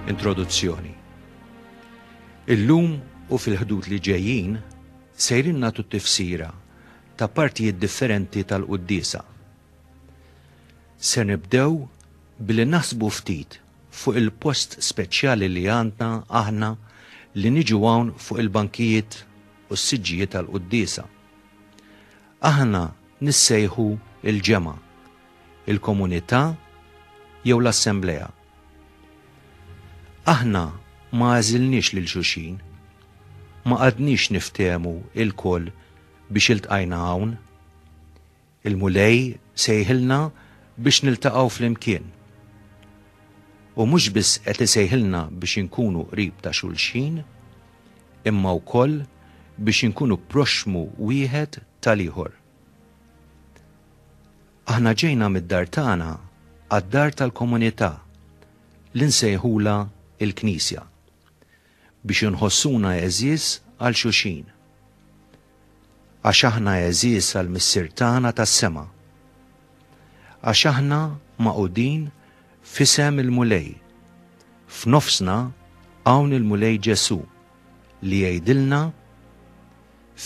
Introduzzjoni Illum u fil-ħdud li ġejjin sejrin natu tifsira ta' partijiet differenti tal-quddisa. Se nibdew billi naħsbu ftit fuq il-post speċjali li għandna aħna li niġu hawn fuq il-bankijiet u s-siġġijiet tal-quddisa. Aħna nissejħu l-ġemgħa, il-komunità jew l-assemblea. Aħna ma għażilniex lil xulxin. Ma qgħadniex niftehmu lkoll biex iltqajna hawn. Il-Mulej sejħilna biex niltaqgħu flimkien. U mhux biss qed isejħilna biex inkunu qrib ta' xulxin, imma wkoll biex inkunu proxxmu wieħed tal-ieħor. Aħna ġejna mid-dar tagħna għad-dar tal-komunità li nsejħulha l-Knisja. biex inħossuna għeżież għal xulxin. Għax aħna għeżież għal Missier tagħna tas-sema. Għax aħna magħqudin f'isem il-Mulej. F'nofsna hawn il-Mulej Ġesù li jgħidilna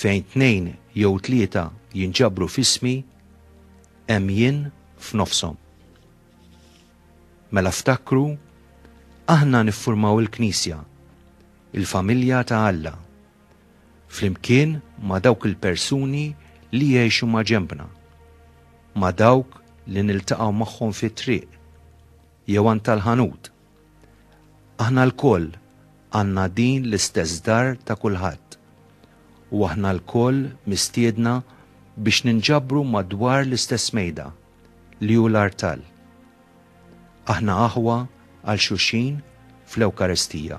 fejn tnejn jew tlieta jinġabru f'ismi hemm jien f'nofshom. Mela ftakru, aħna niffurmaw il-Knisja, il-familja ta' Alla, flimkien ma' dawk il-persuni li jgħixu maġenbna, ma' dawk li niltaqgħu magħhom fit-triq jew għand tal-ħanut. Aħna lkoll għandna din l-istess dar ta' kulħadd, u aħna lkoll mistiedna biex ninġabru madwar l-istess mejda. li hu l-artal. Aħna aħwa għal xulxin fl-Ewkaristija.